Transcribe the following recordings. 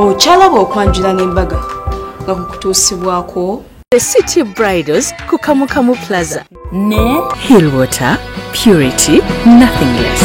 okyalaba okwanjula n'embaga nga kukutuusibwako the city bridals ku kamukamu plaza ne hill water purity nothing less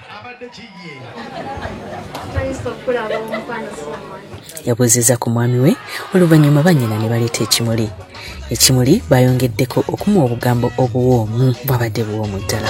yabuuzizza ku mwami we oluvannyuma bannyina ne baleeta ekimuli ekimuli baayongeddeko okumuwa obugambo obuwoomu bwabadde buwoomu ddala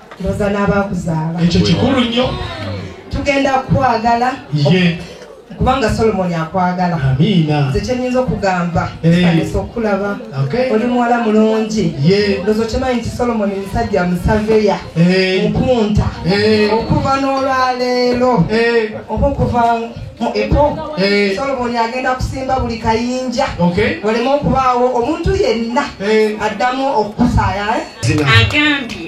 ndoza n'abaakuzaala ekyo kikulu nnyo tugenda kukwagala ye kubanga solomoni akwagala amiina nze kyenyinza okugamba kanisa okukulaba oli muwala mulungi ndozo kyemanyi nti solomoni musajja musaveya nkunta okuva n'olwaleero oba okuva epo solomoni agenda kusimba buli kayinja waleme okubaawo omuntu yenna addamu okukusaaya eh? agambye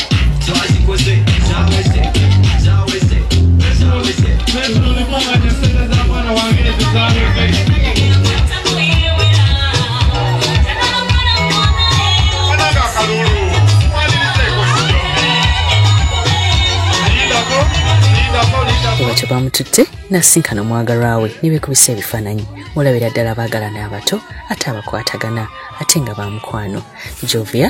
bamututte n'asinkana omwagalwa we ne beekubisa ebifaananyi olabira ddala baagalana abato ate abakwatagana ate nga baamukwano jovia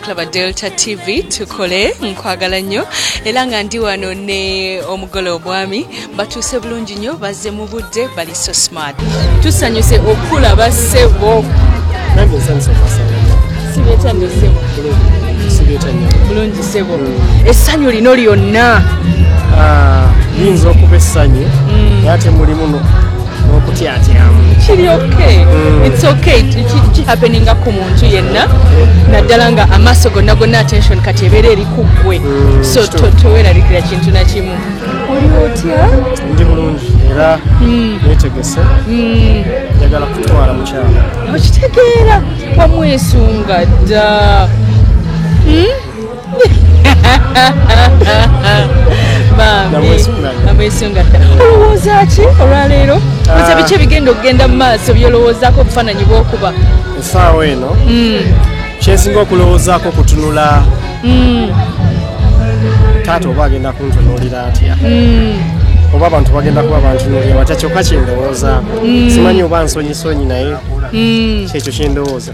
Klaba Delta TV tukole nkwagala nnyo era nga ndi wano ne omugole obwami batuuse bulungi nnyo bazze mu budde bali so smart tusanyuse okulaba sebo bulungi sebo mm. essanyu lino lyonna ah, liyinza okuba essanyu mm. ate mulimu okutyatyamu kiri okay mm. it's okay kihapeninga ku muntu yenna naddala nga amaaso gonna gonna attention kati ebeera eri ku ggwe mm, so toweralikira kintu nakimu oli otya ndi bulungi era mm. netegese njagala kutwala mukyala okitegeera wamwesunga dda hmm? namwesunga dda olowooza ki olwaleero oza biki ebigenda okugenda mu maaso byolowoozaako obufaananyi bwokuba esaawa eno hmm. kyensinga okulowoozaako kutunula hmm. taata oba agenda kuntunuulira atya hmm. oba abantu bagenda kuba bantunuulira batya kyokka kyendowoozaako simanyi oba nsonyisonyi naye kyekyo kyendowooza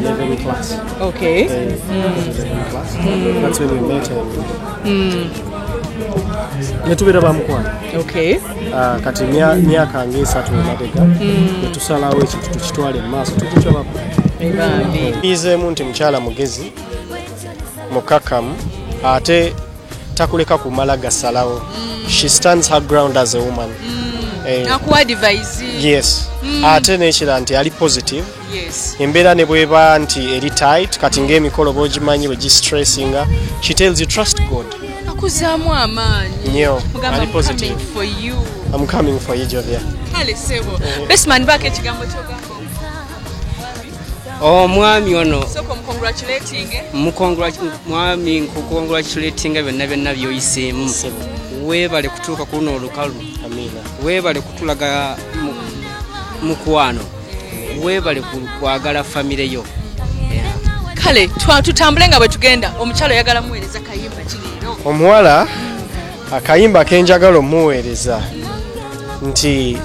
Level class. Okay. Then, mm. class. Mm. That's when we met. Mm. netubeera bamukwano ah, kati myaka ngaesatu emabega mm. netusalawo ekintu tukitwale mu maaso tukikyabako izeemu nti mukyala mugezi mukakamu ate takuleka kumala gasalawo mm. she stands her ground as a woman mm. eh. yes mm. ate nekira nti ali positive embeera ne bweba nti eri tight kati ngaemikolo bogimanyi wegistressinga she tells you trust god akuzaamu amaanyi nyo ali positive am coming for you jovia kale sebo eh. besman baako ekigambo kyogamba omwami oh, ono mwami nkukongratulatinga byonna byonna byoyiseemu webale kutuuka ku luno olukalu webale kutulaga mukwano webale kwagala famire yo kale tutambule nga bwetugenda omukyalo oyagala muweereza kayimba kileero omuwala akayimba kenjagala omuweereza nti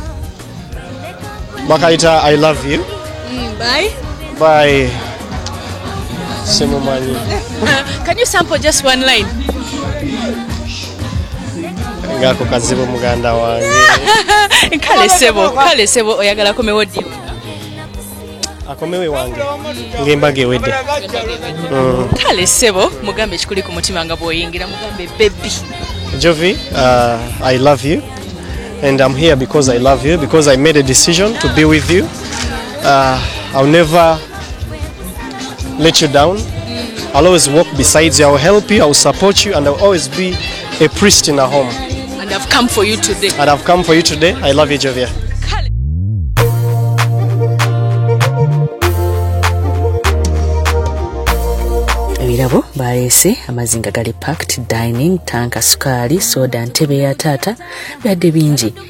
bakayita i love you mm, by by simumanyi can you sample just one line ngako kazibu muganda wange kale sebo kale sebo oyagala akomewo ddi akomewo ewange ngaembaga ewedde mm. kale sebo mugambe ekikuli ku mutima nga bwoyingira mugambe bebi jovi uh, i love you and i'm here because i love you because i made a decision to be with you uh, i'll never let you down I'll always walk beside you I'll help you I'll support you and I'll always be a priest in a home and I've come for you today and I've come for you today I love you Jovia ebirabo baleese amazzi nga gali pact dining tanka sukaali soda ntebe ya taata byadde bingi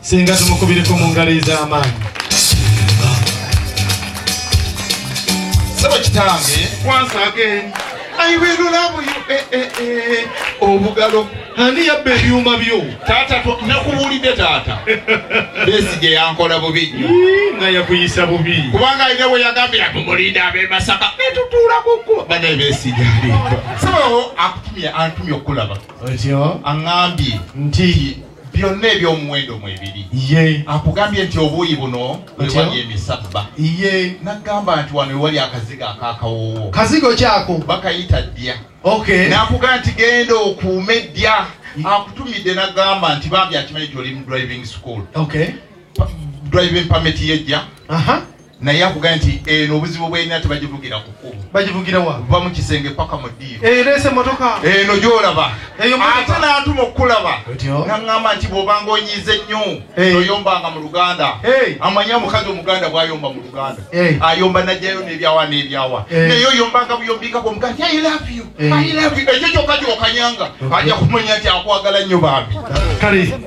Singa tumukubireko mu ngalo ez'amaanyi. Sebo kitange. Once again. I will love you. Eh, eh, eh. Obugalo. Ani yabba ebyuma byo? Taata nakubuulidde taata. Besi gye yankola bubi nnyo. Nga yakuyisa bubi. Kubanga alina we yagambira tumulinda ab'e Masaka. Ne tutuula ku kkuba. Bana ebesi gyali. So akutumye antumye okukulaba. Otyo. Aŋŋambye. Nti. byonna ebyomuwendo mwebiri akugambye nti obuuyi buno wewali emisabba iye nagamba nti wano wewali akazigo akakawoowo kazigo kyako bakayita ddya nakuga nti genda okuume ddya akutumidde nagamba nti bambi akimanyi ti oli mu driving school driving permit yejja naye akugaye nti eno obuzibu bweyina tebagivugira kukubu bagivugirawa va mu kisenge paka mu ddiiro ereese eh, motoka eno eh, gyolaba ate natuma okukulaba naŋŋamba nti bwobanga onyiize nnyo eh. toyombanga mu luganda amanya omukazi omuganda bwayomba mu luganda ayomba najjayo nebyawa nebyawa naye oyombanga buyombikako omugaa nti ekyo kyokka kyokanyanga ajja kumanya nti akwagala nnyo bambi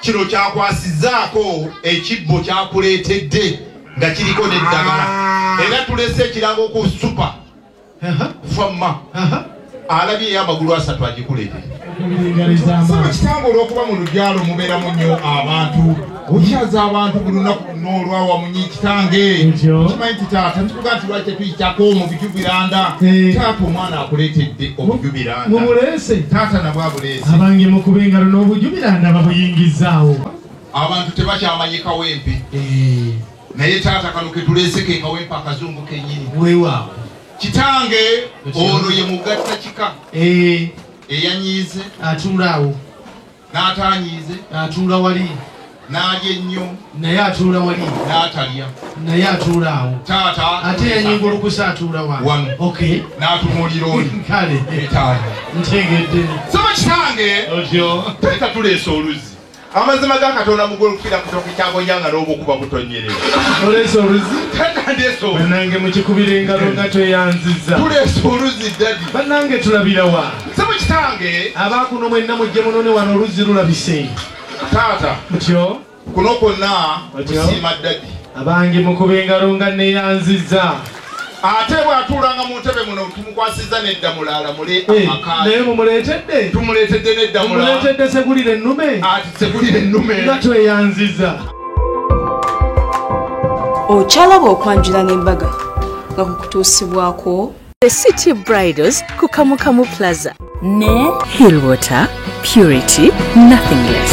Kino kyakwasizzaako ekibbo kyakuleetedde nga kiriko n'eddagala ah. era tulese ekirango ku supa famma alabye eyo amagulu asatu agikuleete saba kitange olw'okuba mu lubyalo mubeeramu nnyo abantu okyaza abantu buli lunaku n'olwawamunyi kitange kimanyi nti taata ntuga nti lwaki tetuyitako mu bijubiranda eh. taata omwana akuleetedde obujubiranda mubulese taata nabwe abuleese abange mukuba engalo n'obujubiranda babuyingizaawo abantu tebakyamanyi kawempe eh. naye taata kano ketuleese ke kawempe akazungu kenyini wewaawo kitange ono ye mugatta kika eh. eyanyiize atunulaawo n'ataanyiize n'atuula wali n'alya ennyo naye atuula wali n'atalya naye atuula awo taata ate yanyingulukusa atuula wa wano okay n'atunuulira oli kale etaano ntegedde saba kitange otyo teeka tuleesa oluzzi amazima ga katonda mugulu kufira kutoka ekyabonyanga n'obukuba butonyereza oleesa oluzi tanandeesa banange mukikubira engalo nga tweyanziza tuleesa oluzi dadi banange tulabira wa Sebo kitange. Abakuno mwenna mujje munone wano oluzzi lulabise. Taata. Mutyo. Kuno kwonna kusiima ddadi. Abange mukuba engalo nga neyanzizza. Ate bw'atuulanga mu ntebe muno tumukwasizza nedda mulaala mule eh, amaka. Naye mumuleetedde. Tumuleetedde nedda mulaala. Mumuleetedde segulira ennume. Ati segulira ennume. Nga tweyanzizza. Okyalaba okwanjula n'embaga nga kukutuusibwako The City Bridals ku Kamukamu Plaza. Ne Hill Water, purity, nothing less.